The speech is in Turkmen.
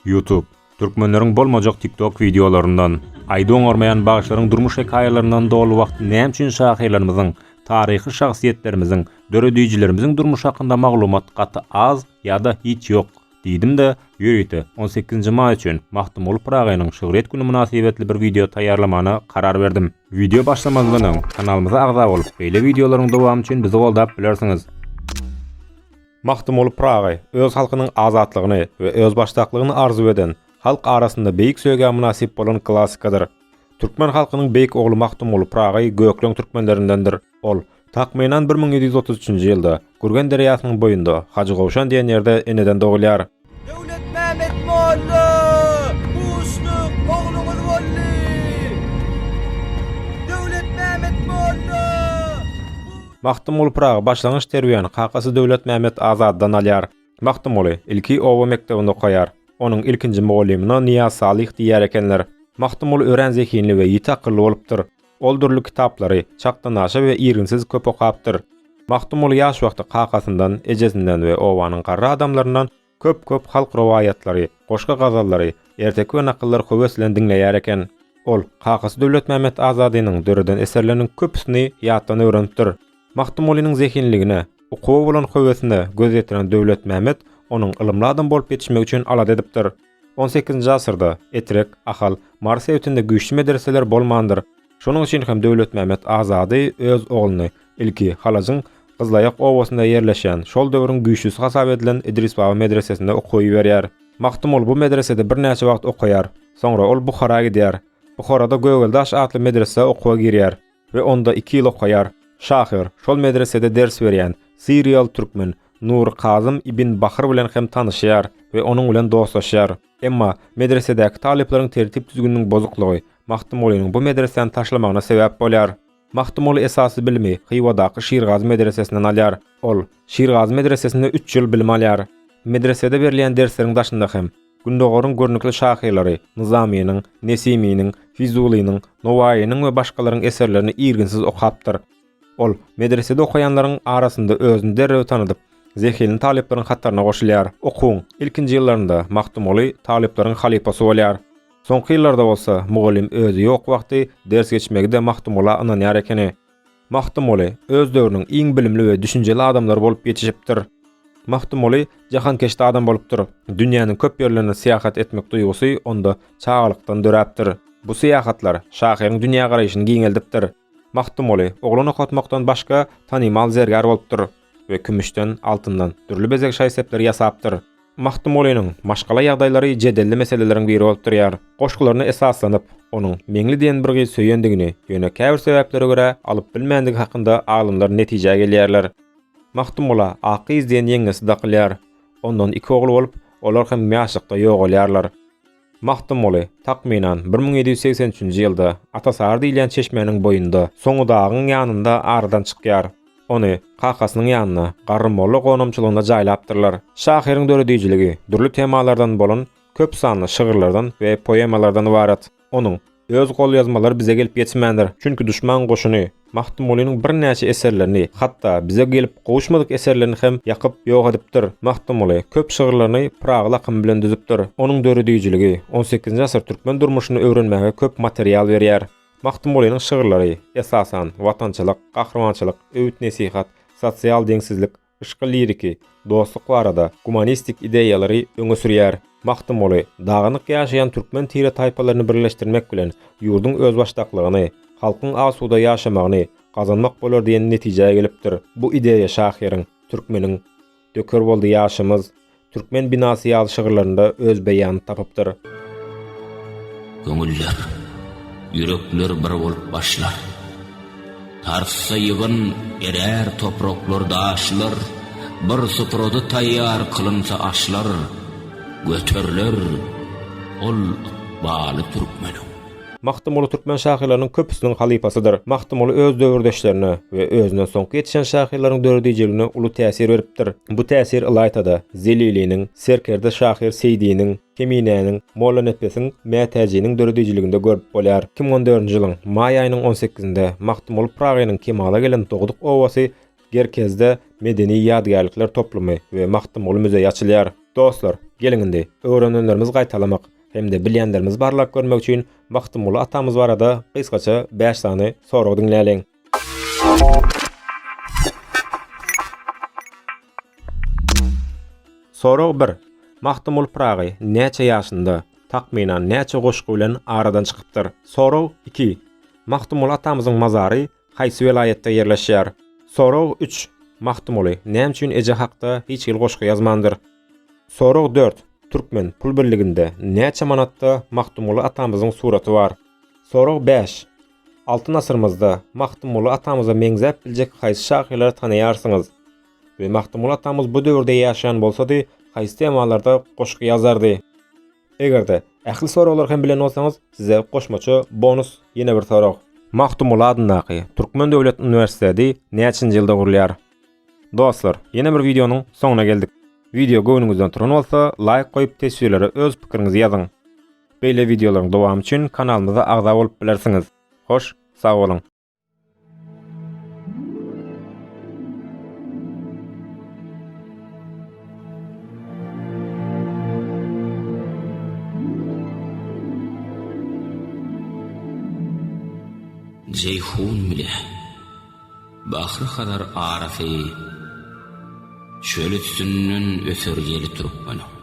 Youtube, Türkmenleriň bolmajak TikTok wideolaryndan, aýdy oňarmaýan bagşylaryň durmuş hekaýalaryndan doly wagt näme üçin şahyrlarymyzyň, taryhy şahsyýetlerimiziň, döredijilerimiziň durmuşy hakynda maglumat gaty az ýa-da hiç ýok? diýdim-de, ýörite on sekizinji maý üçin Magtymguly Pyragynyň şygryýet güni mynasybetli bir wideo taýýarlamana karar berdim. Wideo başlamazdan öň, kanalymyza agza bolup, beýle wideolaryň dowamy üçin bizi goldap bilersiňiz. Magtymguly Pyragy öz halkynyň azatlygyny we özbaşdaklygyny arzuw eden, halk arasynda beýik söýgä mynasyp bolan klassikadyr. Türkmen halkynyň beýik ogly Magtymguly Pyragy gökleň türkmenlerindendir. Ol, takmynan, bir müň ýedi ýüz otuz üçünji ýylda, Gürgen derýasynyň boýunda, Hajygowşan diýen ýerde eneden dogulýar. Döwletmämmet molla Muşduk ogluňyz boldy! Döwletmämmet molla Muşduk! Magtymguly Pyragy başlangyç terbiýäni kakasy Döwletmämmet Azatdan alýar. Magtymguly ilki oba mekdebinde okaýar. Onuň ilkinji mugallymyna Nyýaz Salyh diýer ekenler. Magtymguly örän zehinli we ýiti akylly bolupdyr. Ol dürli kitaplary çakdanaşa we irginsiz köp okapdyr. Magtymguly ýaş wagty kakasyndan, ejesinden we obanyň garry adamlaryndan köp-köp halk rowaýatlary, goşgy-gazallary, erteki we nakyllary höwes bilen diňleýär eken. Ol kakasy Döwletmämmet Azadynyň döreden eserleriniň köpüsini ýatdan öwrenipdir. Magtymgulynyň zehinligine, okuwa bolan höwesine göz ýetiren Döwletmämmet onuň ylymly adam bolup ýetişmegi üçin alada edipdir. On sekizinji asyrda Etrek, Ahal, Mary sebitinde güýçli medreseler bolmandyr. Şonuň üçin hem Döwletmämmet Azady öz ogluny ilki Halajyň Gyzlaýak obasynda ýerleşýän, şol döwrüň güýçlüsi hasap edilen Idris Baba medresesine okuwa iberýär. Magtymguly bu medresede birnäçe wagt okaýar. Soňra ol Buhara gidýär. Buharada Gögeldaş atly medresä okuwa girýär. we onda iki ýyl okaýar. Şahyr, şol medresede ders berýän, siriýaly türkmen, Nury Kazym ibn Bahyr bilen hem tanyşýar we onuň bilen dostlaşýar. Emma, medresedäki talyplaryň tertip-düzgüniniň bozuklygy, Magtymgulynyň bu medresäni taşlamagyna sebäp bolýar. Magtymguly esasy bilimi Hywadaky Şirgazy medresesinden alýar. Ol, Şirgazy medresesinde üç ýyl bilim alýar. Medresede berilýän dersleriň daşynda hem. Gündogaryň görnükli şahyrlary Nyzamynyň, Nesiminiň, Fizulynyň, Nowaýynyň we başgalaryň eserlerini irginsiz okapdyr. Ol medresede okaýanlaryň arasynda özüni derrew tanadyp, zehinli talyplaryň hataryna goşulýar. Okuwyň ilkinji ýyllarynda Magtymguly talyplaryň halypasy bolýar. Soňky ýyllarda bolsa, mugallym özi ýok wagty ders geçmegi-de Magtymgula ynanýar ekeni. Magtymguly öz döwrüniň iň bilimli we düşünjeli adamlary bolup ýetişipdir. Magtymguly jahankeşde adam bolupdyr. Dünýäniň köp ýerlerine syýahat etmek duýgusy onda çagalykdan döräpdir. Bu syýahatlar şahyryň dünýägaraýşyny giňeldipdir. Magtymguly oglan okatmakdan başga tanymal zergär bolupdyr. we kümüşden, altyndan dürli bezeg şaý-sepleri ýasapdyr. Magtymgulynyň maşgala ýagdaýlary jedelli meseleleriň biri bolup durýar. Goşgularyna esaslanyp, onuň Meňli diýen bir gyz söýendigini, ýöne käbir sebäplere görä alyp bilmändigi hakynda alymlar netijä gelýärler. Magtymgula Akgyz diýen ýeňňesi dakylýar. Ondan iki ogly bolup, olar hem ýaşlykda ýogalýarlar. Magtymguly, takmynan, bir müň ýedi ýüz segsen üçünji ýylda, Atasary diýilýän çeşmäniň boýunda, Soňudagyň ýanynda aradan çykýar. Ony, kakasynyň ýanyna, Garry molla gonamçylygynda jaýlapdyrlar. Şahyryň döredijiligi dürli temalardan bolan köp sanly şygyrlardan we poemalardan ybarat. Onuň, Öz golýazmalary bize gelip ýetmändir, çünki duşman goşuny Magtymgulynyň birnäçe eserlerini, hatda bize gelip gowuşmadyk eserlerini hem ýakyp, ýok edipdir. Magtymguly köp şygyrlaryny Pyragyl akymy bilen düzüpdir. Onuň döredijiligi on sekizinji asyr türkmen durmuşyny öwrenmäge köp material berýär. Magtymgulynyň şygyrlary, esasan, watançylyk, gahrymançylyk, öwüt-nesihat, sosial deňsizlik, Yşky liriki, dostluk barada gumanistik ideýalary öňe sürýär. Magtymguly, dagynyk ýaşaýan türkmen tire-taýpalaryny birleşdirmek bilen ýurduň özbaşdaklygyny, halkyň asuda ýaşamagyny gazanmak bolar diýen netijä gelipdir. Bu ideýa şahyryň, türkmeniň Döker boldy ýaşymyz, Türkmen binasy ýaly şygyrlarynda öz beýanyny tapypdyr. Köňüller, ýürekler bir bolup başlar. Tarssa ýygyn, erär topraklar, daşlar, Bir suprada taýýar kylynsa aşlar, Göteriler ol ykbaly türkmeniň. Magtymguly türkmen şahyrlarynyň köpüsiniň halypasydyr. Magtymguly öz döwürdeşlerine we özünden soňky ýetişen şahyrlaryň döredijiligine uly täsir beripdir. Bu täsir ylaýta-da, Zeliliniň, serkerde şahyr Seýdiniň, Keminäniň, Mollanepesiň, Mätäjiniň döredijiliginde görüp bolýar. Iki müň on dördünji ýylyň maý aýynyň on sekizinde Magtymguly Pyragynyň kemala gelen dogduk obasy Gerkezde medeni ýadygärlikler toplumy we Magtymguly müzeýi açylýar. Dostlar, geliň indi, öwrenenlerimizi gaýtalamak hem-de bilýänlerimizi barlap görmek üçin Magtymguly atamyz barada gysgaça bäş sany soragy diňläliň. Sorag bir. Magtymguly Pyragy näçe ýaşynda, takmynan, näçe goşgy bilen aradan çykypdyr? Sorag iki. Magtymguly atamyzyň mazary Haýsy welaýatda ýerleşýär? Sorag üç, Magtymguly näme üçin eje hakda hiç hili goşgy ýazmandyr? Sorag dört, Türkmen pul birliginde näçe manatda Magtymguly atamyzyň suraty bar? Sorag bäş, Altyn asyrymyzda Magtymguly atamyza meňzäp biljek haýsy şahyrlary tanaýarsyňyz? We Magtymguly atamyz bu döwürde ýaşaýan bolsady, haýsy temalarda goşgy ýazardy? Eger-de, ähli soraglary hem bilen bolsaňyz, size goşmaça bonus ýene bir sorag. Magtymguly adyndaky Türkmen döwlet uniwersiteti näçinji ýylda gurulýar? Dostlar, ýene bir wideonyň soňuna geldik. Wideo göwnüňizden turan bolsa, laýk goýup teswirlere öz pikiriňizi ýazyň. Beýle wideolaryň dowamy üçin kanalymyza agza bolup bilersiňiz. Hoş, sag boluň! Jeýhun bile Bahry Hazar arasy çöl üstünden öter ýeli türkmeniň.